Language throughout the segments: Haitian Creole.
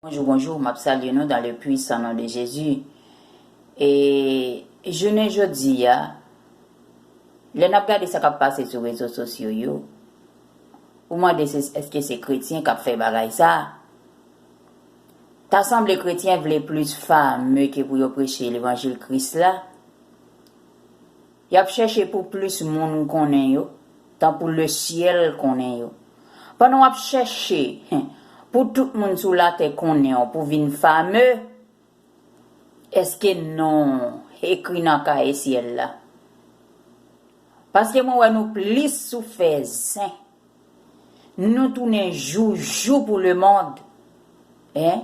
Bonjou bonjou map salye nou dan le pwisan non de jezi e jounen jodi a lè nap gade sa kap pase sou rezo sosyo yo ou mande se eske se kretyen kap fè bagay sa ta sanble kretyen vle plis fame ke pou yo preche levanjil kris la. Y ap chèche pou plis moun konnen yo, tankou lesyèl konnen yo. Pandan w ap chèche pou tout moun sou latè konnen w pou vin fame, èske non w ekri nan kaye syèl la? Paske mwen wè nou plis sou fè zen. Nou tounen joujou pou le mond eh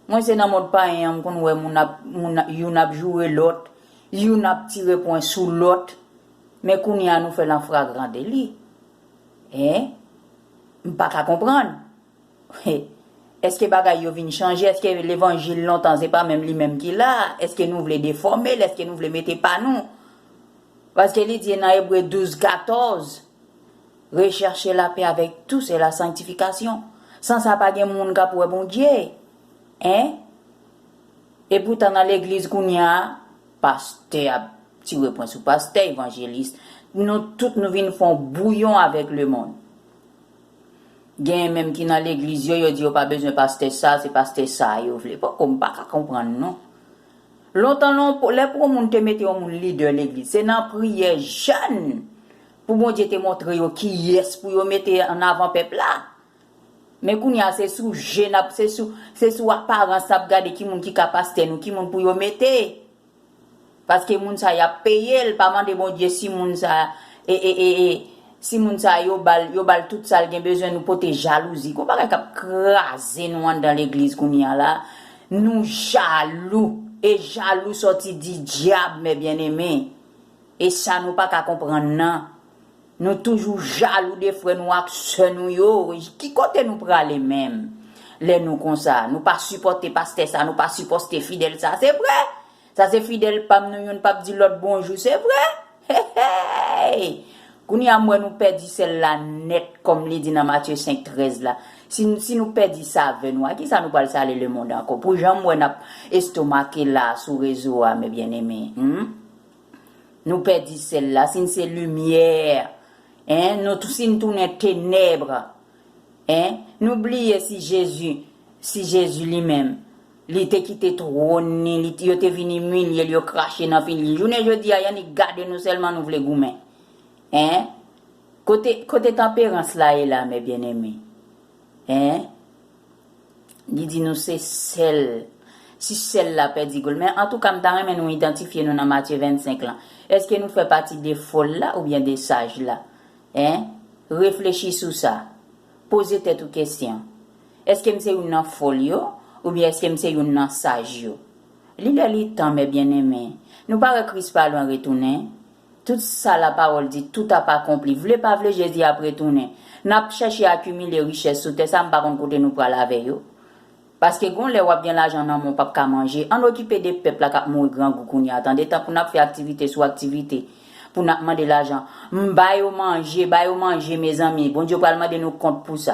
Mwen se nan mond payen an m konn wè moun ap moun youn ap joure lòt youn ap tire pwen sou lòt men kounya nou fè l an fragrandeli eh m pa ka konprann. Eske bagay yo vin chanje? Eske levanjil lontan se pa menm li menm ki la? Eske nou vle defòme l? Eske nou vle mete pa nou? Paske li di nan Ebre 12, 14, Rechèche lapè avèk tous e la sanktifikasyon. San sa pa gen moun k ap wè Bondye. Hein? Epoutan nan legliz kounye a, pastè ap tire pwen sou pastè, evanjelis, nou tout nou vin fon bouyon avèk lemonn. Genyen menm ki nan legliz yo, yo di yo pa bezwen pastè sa, se pastè sa a yo vle. Poko m pa ka konprann non. Lontan lon, lè pou yon moun te mete yon moun lidè legliz, se nan priyè jèn pou Bondye te montre yo kiyès pou yo mete an avan pèp la. Men kounye a se sou je n ap, se sou aparans n ap gade ki moun ki ka pastè nou, ki moun pou yo mete. Paske moun sa yap peyel pa mande bondye si moun sa ee si moun sa yo bal yo bal tout sal gen bezwen nou pote jalouzi gon bagay kap kraze nou andan legliz kounya la nou jalou e jalou sòti di dyab mè byeneme esa nou paka konprann nan. Nou toujou jalou de frè nou ak sè nou yo, ki kote nou prale menm lè nou konsa, nou pa sipòte pastè sa, nou pa sipòste fidèl sa se vre, sa se fidèl pam nou youn pap di lòt bonjou se vre heheyy kounye a m wè nou pèdi sèl la nèt kòm li di nan Matye 5, 13 la, si nou pèdi savè nou a kisa nou pral sale lemond ankò pou jan m wè nap estomake la sou rezo a mes bien aimés humm Nou pèdi sèl la, si n se limyè en, nou tou si n tounen tenèbre en, nou bliye si Jezi, si Jezi li menm, li te kite twòn ni, li, yo te vin imilye l, yo krache nan figi l. Jounen jodi a, y'annik gade nou sèlman nou vle goumen en. Kote, kote tanperans la ye la, mè byeneme en? Li di nou se sèl, si sèl la pèdi gol. Men antouka m ta renmen nou idantifye nou nan Matye 25 lan. Eske nou fè pati de fol la oubyen de saj la? Hein? Reflechi sou sa. Poze tèt ou kesyon. Eske m se youn nan fol yo oubyen eske m se youn nan saj yo? Li lè li tan, mè byeneme. Nou pa wè Kris pa lwen retounen? Tout sa la pawòl di, tout ap akonpli. Vle pa vle Jezi ap retounen. N ap chèche akimile richès sou tè sa m pa konn kote nou pral avè yo. Paske gon lè w ap gen lajan nan men w p ap ka manje. Ann okipe de pèp la k ap mouri grangou kounye a tande tan pou n ap fè aktivite sou aktivite pou n ap mande lajan. M ba yo manje, ba yo manje mezanmi. Bondye pral mande nou kont pou sa.